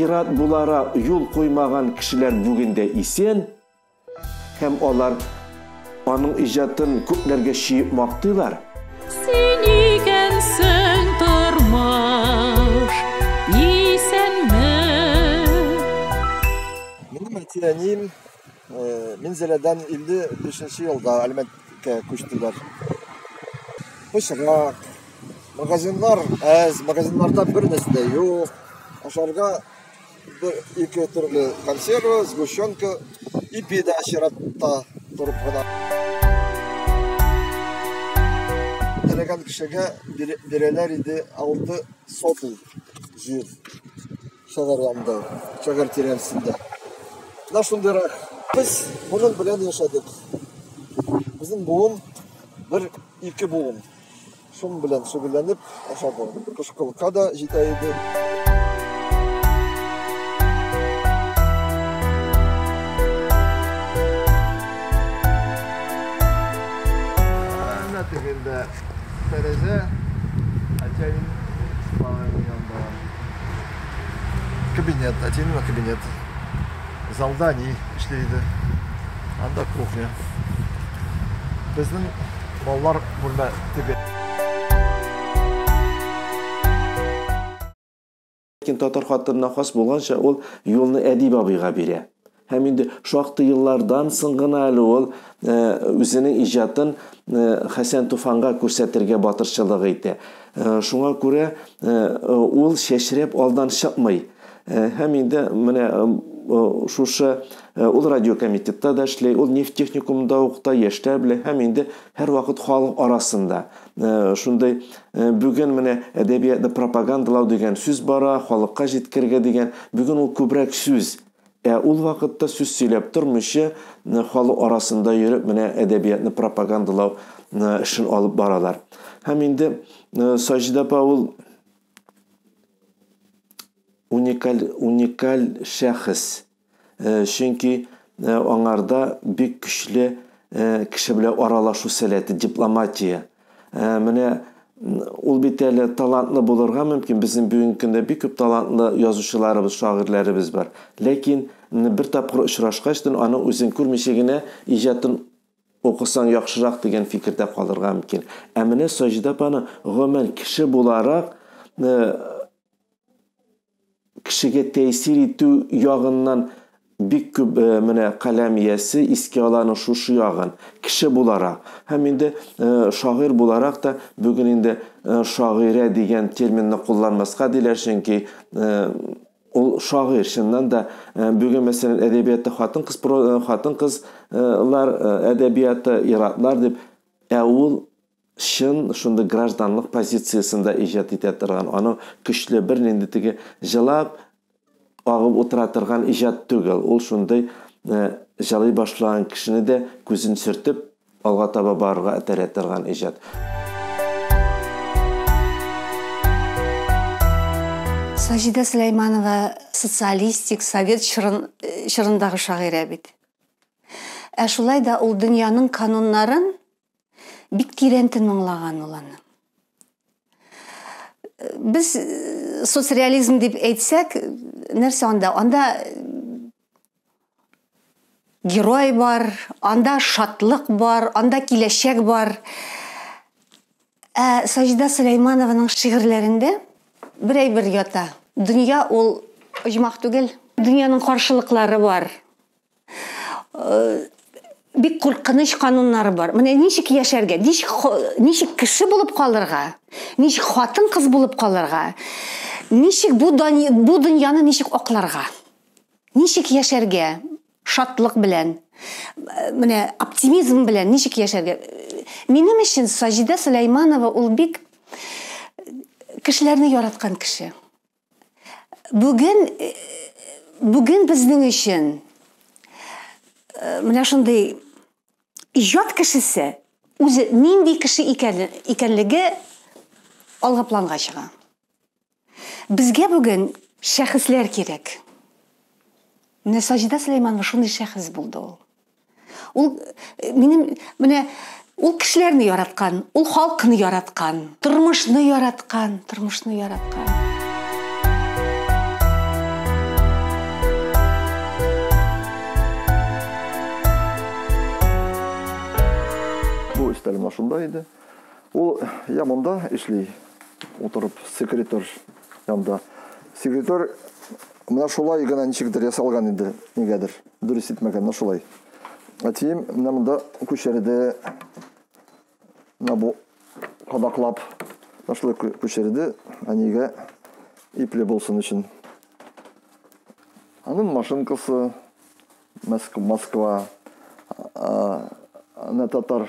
Ир-ат булара юл куймаган кешеләр бүген дә исән һәм алар аның иҗатын күпләргә чөеп мактыйлар. Син икәнсең тормыш, исәнме? Минем әти-әнием Э, Минзәләдән 55 елда Әлмәткә күчтеләр. Пычрак, магазиннар әз, магазиннарда бер нәрсә дә юк. Ашарга бер ике төрле консерва, сгущенка, ипи дә чиратта торып кына. Теләгән кешегә бирәләр иде алты сотый җир. Шагарламда, шагар тирәсендә. Менә шундыйрак. Без моның белән яшәдек. Безнең буын бер ике буын. Шуның белән шөгыльләнеп ашады. Кышкылка да җитә иде. Әнә тегендә тәрәзә, әтиәнең спальня янында. кабинет, әти миңа кабинет. Залда ни эшли иде. Анда кухня. Безнең балалар бүлмә теге. Ләкин татар хатынына хас булганча ул юлны әдип абыйга бирә. Һәм инде шактый еллардан соң гына әле ул үзенең иҗатын Хәсән Туфанга күрсәтергә батырчылык итә. Шуңа күрә ул чәчрәп алдан чыкмый. Һәм инде менә шушы ул радиокомитетта да эшли, ул нефть техникумында укыта, яшьләр белән һәм инде һәрвакыт халык арасында. Шундый бүген менә әдәбиятны пропагандалау дигән сүз бара, халыкка җиткергә дигән. Бүген ул күбрәк сүз. Ә ул вакытта сүз сөйләп тормыйча, халык арасында йөреп менә әдәбиятны пропагандалау эшен алып баралар. Һәм инде Саҗидә апа ул уникаль, уникаль шәхес. Чөнки аңарда бик көчле кеше белән аралашу сәләте, дипломатия. Ә, менә ул бит әле талантлы булырга мөмкин. Безнең бүгенге көндә бик күп талантлы язучыларыбыз, шагыйрьләребез бар. Ләкин бер тапкыр очрашкач, аны үзен күрмичә генә иҗатын укысаң яхшырак дигән фикердә калырга мөмкин. Ә менә Саҗидә апаны гомумән кеше буларак кешегә тәэсир итү ягыннан бик күп э, менә каләм иясе искә ала аның шушы ягын кеше буларак һәм инде э, шагыйрь буларак та бүген инде э, шагыйрә дигән терминны кулланмаска диләр чөнки ул шагыйрь чыннан да бүген мәсәлән әдәбиятта хатын кыз хатын кызлар әдәбияты иратлар дип ә ул чын шундый гражданлык позициясендә иҗат итә торган, аның көчле бер нинди теге җылап агып утыра торган иҗат түгел. Ул шундый э, җылый башлаган кешене дә күзен сөртеп алга таба барырга этәрә торган иҗат. Саҗидә Сөләйманова социалистик, совет чырын, э, чырындагы шагыйрә бит. Ә шулай да ул дөньяның кануннарын Бик тирән тыңлаган ул аны. Без э, соцреализм дип әйтсәк, нәрсә анда? Анда герой бар, анда шатлык бар, анда киләчәк бар. Ә Саҗда Сөләйманованың шигырьләрендә бер әйбер ята. Дөнья ул оҗмах түгел. Дөньяның каршылыклары бар. бик куркыныч кануннары бар. Менә ничек яшәргә, ничек, ничек кеше булып калырга, ничек хатын кыз булып калырга, ничек бу, бу дөньяны ничек акларга, ничек яшәргә, шатлык белән, менә оптимизм белән ничек яшәргә. Минем өчен Саҗидә Сөләйманова ул бик кешеләрне яраткан кеше. Бүген бүген безнең өчен менә шундый иҗат кешесе үзе нинди кеше икәнлеге алга планга чыга. Безгә бүген шәхесләр кирәк. Менә Саҗидә Сөләйманова шундый шәхес булды ул. Ул э, минем менә ул кешеләрне яраткан, ул халкны яраткан, тормышны яраткан, тормышны яраткан. Бу өстәлем шунда иде. Ул я монда эшли, утырып секретарь янда. Секретарь менә шулай гына ничектер ясалган иде, нигәдер. Дөрес итмәгәннәр шулай. Әтием менә монда күчерде. Менә бу кадаклап шулай күчерде. Әнигә ипле булсын өчен. Аның машинкасы Москва. Ана татар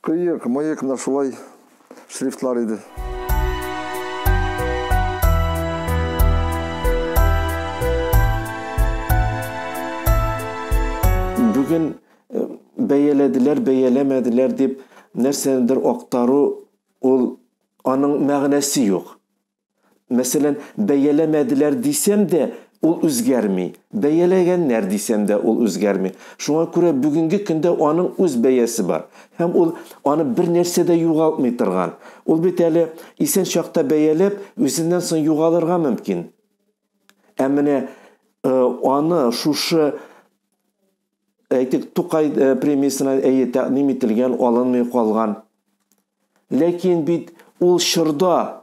Кыек, мыек на шулай шрифтлар иде. Бүген бәяләделәр, бәяләмәделәр дип нәрсәнедер актару, ул аның мәгънәсе юк. Мәсәлән, бәяләмәделәр дисәм дә, ул үзгәрми. Бәяләгәннәр дисәм дә, ул үзгәрми. Шуңа күрә бүгенге көндә аның үз бәясе бар. Һәм ул аны бер нәрсә дә югалтмый торган. Ул бит әле исән чакта бәяләп, үзеннән соң югалырга мөмкин. Ә менә э, аны шушы әйтик, Тукай э, премиясенә әйе тәкъдим ителгән, алынмый калган. Ләкин бит ул чорда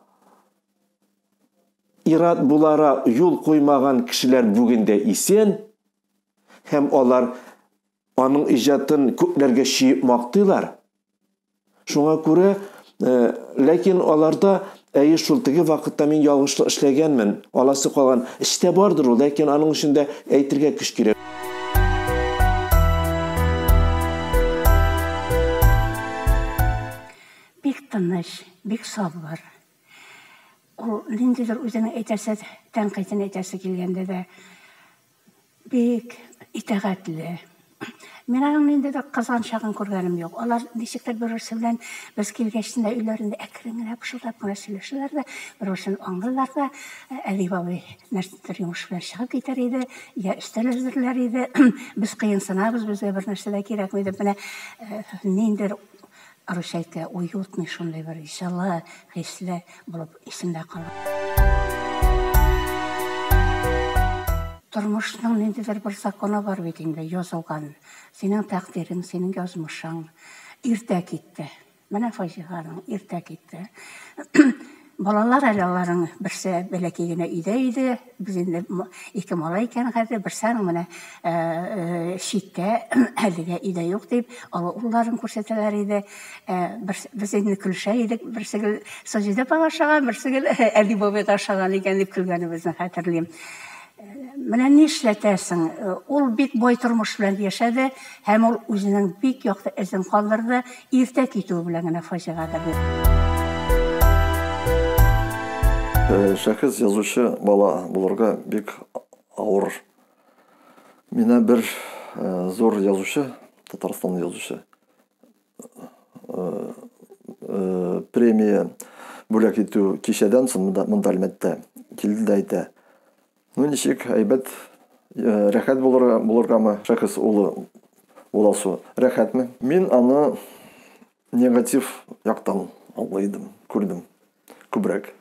ир-ат булара юл куймаган кешеләр бүген дә исән һәм алар аның иҗатын күпләргә чөеп мактыйлар. Шуңа күрә, э, ләкин аларда Әйе шул, теге вакытта мин ялгышлык эшләгәнмен, аласы калган. Эчтә бардыр ул, ләкин аның өчен дә әйтергә көч кирәк. Бик тыныч, бик сабыр. Ул ниндидер үзенең әйтәсе тәнкыйтен әйтәсе килгәндә дә, Бик итәгатьле. Мин аның нинди дә кызганчагын күргәнем юк. Алар ничектер бер-берсе белән без килгәч тенә өйләрендә әкрен генә пышылдап кына сөйләшәләр дә, бер-берсен аңлыйлар да. Әдип абый нәрсәдер йомыш белән чыгып китәр иде, йә өстәл әзерләр иде. Без кыенсынабыз, безгә бернәрсә дә кирәкми дип, менә ниндидер русча әйткән уютный шундый бер җылы хисле булып исендә кала. Тормышның ниндидер бер законы бар бит инде, язылган. Синең тәкъдирең, синең язмышың иртә китте. Менә фаҗиганың иртә китте. Балалар әле аларның берсе бәләкәй генә өйдә иде. Без инде ике малай икән хәзер, берсаң менә читтә, әлегә өйдә юк дип, олы улларын күрсәтәләр иде. Без инде көлешә идек, берсе гел Саҗидә апага ошаган, берсе гел Әли бабайга ошаган икән дип көлгәнебезне хәтерлим. Менә нишләтәсең, ул бик бай тормыш белән яшәде. Һәм ул үзенең бик якты эзен калдырды, иртә китүе белән генә фаҗига керде. Шәхес язучы бала булырга бик авыр. Менә бер зур язучы, Татарстанлы язучы, премия бүләк итү кичәдән соң монда, монда әлмәттә килде дә әйтә ну ничек әйбәт э, рәхәт булырга булыргамы шәхес улы буласу рәхәтме мин аны негатив яктан аңлый идем күрдем Күбрәк.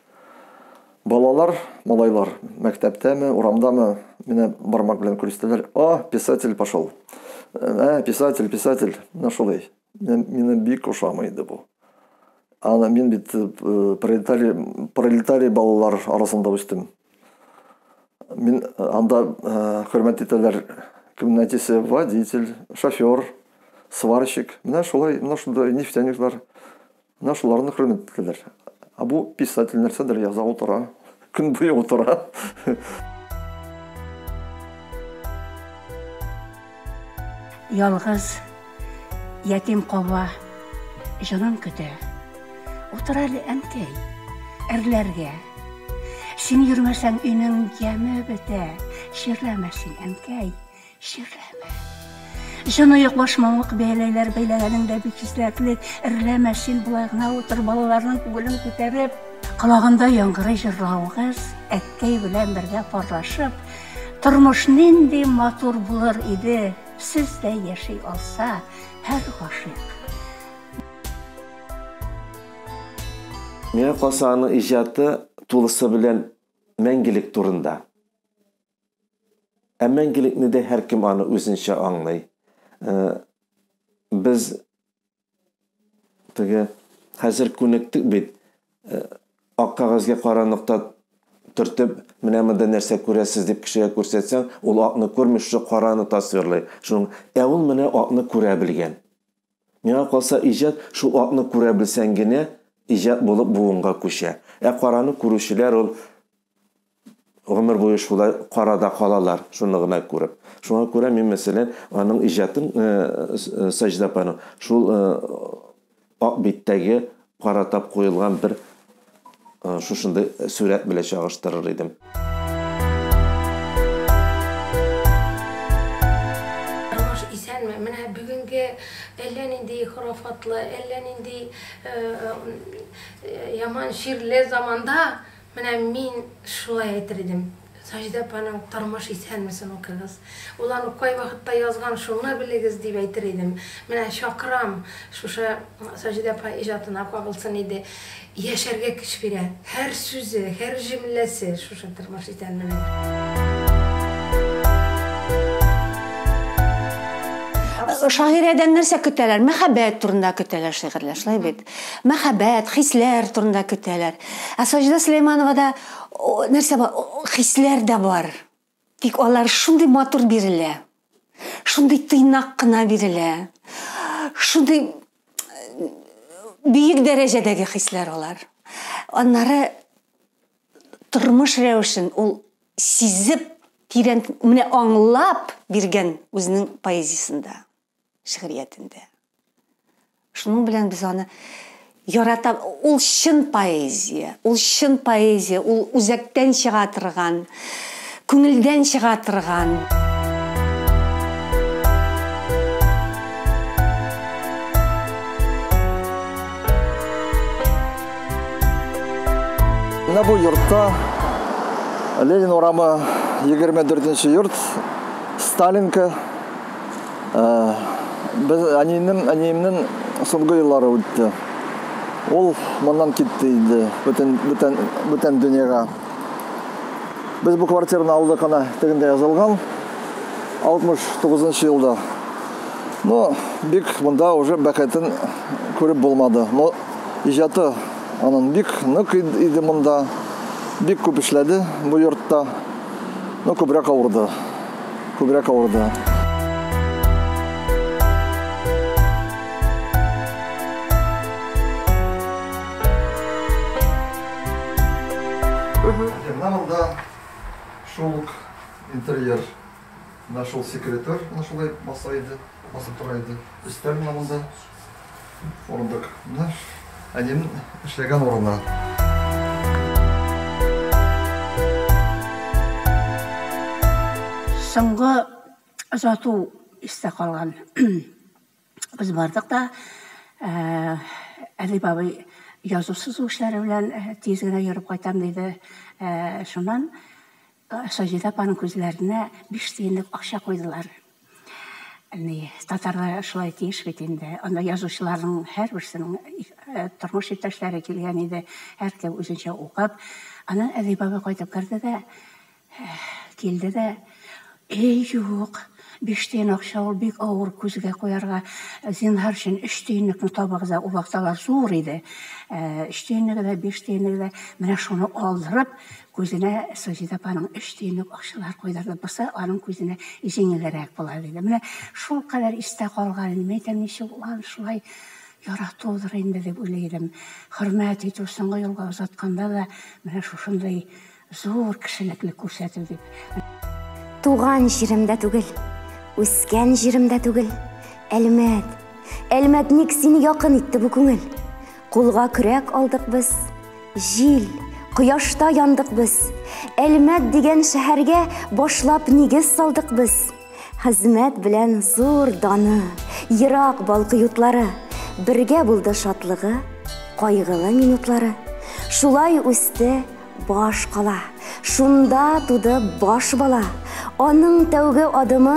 Балалар, малайлар, мәктәптәме, урамдамы, менә бармак белән күрсәтәләр, О, писатель пошел! Ә, писатель, писатель! Менә шулай. Мина бик ошамый иде бу. Ана мин бит э, пролетарий, пролетарий балалар арасында үстем. Мин э, анда э, хөрмәт итәләр кемне әтисе водитель, шофер, сварщик. Менә шулай, менә шунда нефтяниклар. Менә шуларны хөрмәт итәләр. Ә бу писатель нәрсәдер яза утыра, көн буе утыра. Ялгыз ятим калма, җанын көтә. Утыр әле, әнкәй, әрләргә. Син йөрмәсәң, өйнең яме бетә. Чирләмә син, әнкәй. Чирләмә. Җаныек башмавык бәйләйләр, бәйләгәнең дә бик хисләтлек. Эрләмә, син болай гына утыр, балаларның күңелен күтәреп. Колагында яңгырый җырлавыгыз, әткәй белән бергә парлашып, тормыш нинди матур булыр иде, сездәй яши алса һәр гашыйк. Миңа калса, аның иҗаты тулысы белән мәңгелек турында. Ә мәңгелекне дә һәркем аны үзенчә аңлый. Э, без теге хәзер күнектек бит. Э, ак кәгазьгә кара нокта төртеп, менә монда нәрсә күрәсез дип кешегә күрсәтсәң, ул акны күрми, шушы караны тасвирлый. Шуның ә ул менә акны күрә белгән. Миңа калса, иҗат шул атны күрә белсәң генә иҗат булып буынга күчә. Ә караны күрүчеләр ул гомер буе шулай карада калалар, шуны гына күреп. Шуңа күрә мин, мәсәлән, аның иҗатын, Саҗда апаның, шул ак биттәге Каратап куелган бер шушындый сүрәт белән чагыштырыр идем. әллә нинди хурафатлы, әллә нинди яман ширле заманда Менә мин шулай әйтер идем. Саҗидә апаның Тормыш исәнмесен укыгыз. Ул аны кай вакытта язган, шуны белегез, дип әйтер идем. Менә чакырам, шушы Саҗидә апа иҗатына кагылсын иде. Яшәргә көч бирә. Һәр сүзе, һәр җөмләсе шушы Тормыш исәнменең. Шагыйрәдән нәрсә көтәләр? Мәхәббәт турында көтәләр шигырьләр, шулай бит? Мәхәббәт, хисләр турында көтәләр. Ә Саҗидә Сөләймановада нәрсә бар? Хисләр дә бар. Тик алар шундый матур бирелә. Шундый тыйнак кына бирелә. Шундый бөек дәрәҗәдәге хисләр алар. Аннары тормыш рәвешен ул сизеп, тирән, менә аңлап биргән үзенең поэзиясендә. шигъриятендә. Шуның белән без аны ярата ул чын поэзия, ул чын поэзия, ул үзәктән чыга торган, күңелдән чыга торган. Менә бу йортта Ленин урамы 24 нче йорт Сталинка Без әниемнең, әниемнең соңгы еллары үтте. Ул моннан китте инде, бүтән бүтән бүтән дөньяга. Без бу квартираны алдык ана тегендә язылган 69 елда. Но бик монда уже бәхетен күреп булмады. Но иҗаты анын бик нык иде монда. Бик күп эшләде бу йортта. Но күбрәк авырды. күбрәк авырды. шул интерьер нашел секретарь, нашел маса иде, маса тора иде. Өстәл монда. Урындык. Менә әнием эшләгән урыны. Соңгы озату истә калган. Без бардык та, Әдип абый язу-сызу эшләре белән тиз генә йөреп кайтам диде. Шуннан Саҗидә апаның күзләренә биш тиенлек акча куйдылар. Әни, татарда шулай тиеш бит инде. Анда язучыларның һәрберсенең тормыш иптәшләре килгән иде. Һәркем үзенчә укып. Аннан әни бабай кайтып керде дә, килде дә, Әй, юк, биш тиен акча ул бик авыр күзгә куярга. Зинһар өчен өч тиенлекне табыгыз да, ул вакыт алар зур иде. Өч тиенлеге дә, биш тиенлеге дә. Менә шуны алдырып, Күзенә Саҗидә апаның өч тиенлек акчалар куйдырды, бусы аның күзенә җиңелрәк була, диде. Менә шулкадәр истә калган иде. Мәйтәм, ничек ул аны шулай яратудыр инде, дип уйлый идем. Хөрмәт итү, соңгы юлга озатканда да менә шушындый зур кешелекле күрсәтү дип. Туган җирем дә түгел, үскән җирем дә түгел, Әлмәт, Әлмәт, ник сине якын итте бу күңел? Кулга көрәк алдык без, җил, кояшта яндык без. Әлмәт дигән шәһәргә башлап нигез салдык без. Хезмәт белән зур даны, ерак балкы ютлары, бергә булды шатлыгы, кайгылы минутлары. Шулай үсте баш кала, шунда туды баш бала. Аның тәүге адымы